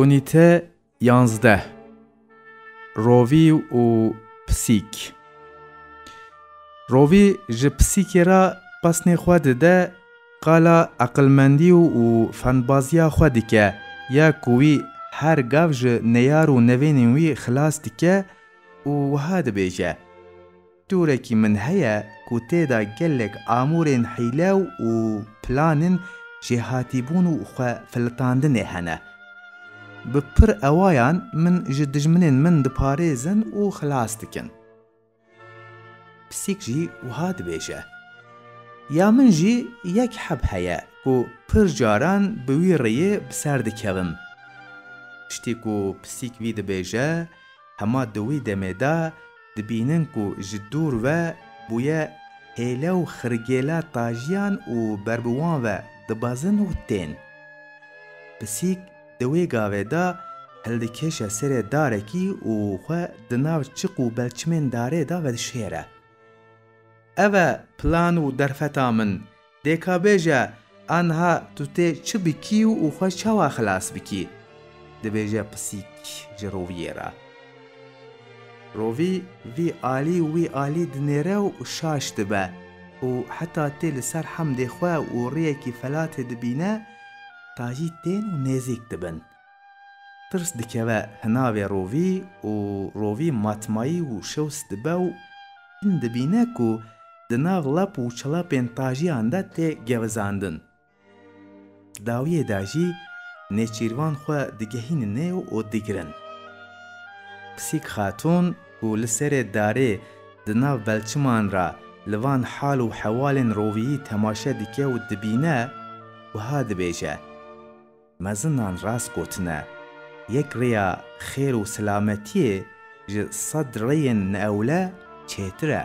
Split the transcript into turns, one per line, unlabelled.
Unîte yanzdeh Rovî û pisîk Rovî ji pisîkê re pesnê xwe dide, qala eqilmendî û fendbaziya xwe dike ya ku wî her gav ji neyar û nevênên wî xilas dike û wiha dibêje. Turekî min heye ku tê de gelek amûrên hîlew û planên jêhatîbûn û xwe filitandinê hene. Bi pir ewayan min ji dijminên min diparêzin û xilas dikin. Pisîk jî wiha dibêje. Ya min jî yek heb heye ku pir caran bi wî rêyê bi ser dikevim. Tiştî ku pisîk vî dibêje, Hema di wî demê de dibînin ku ji dûr ve bûye hêle û xirgêla tajiyan û ber bi wan ve dibezin û tên. Pisîk di wê gavê de hildikêşe serê darekî û xwe di nav çiq û belçimên darê de vedişêre. Ev e plan û derfeta min Dê ka bêje, A niha tu tê çi bikî û xwe çawa xilas bikî? Dibêje pisîk ji roviyê re. Rovî vî alî û wî alî dinêre û şaş dibe û heta tê li ser hemdê xwe û riyekî felatê dibîne, tacî tên û nêzîk dibin. Tirs dikeve hinavê rovî û rovî matmayî û şewis dibe û din dibîne ku di nav lap û çilapên tajiyan de tê gevizandin. Di dawiyê de jî nêçîrvan xwe digehînin neyw û digirin. Pisîk Xatûn ku li serê darê di nav belçiman re li van hal û hewalên roviyî temaşe dike û dibîne, wiha dibêje. Mezinan rast gotine, yek rêya xêr û selametiyê ji sed rêyên ewle çêtir e.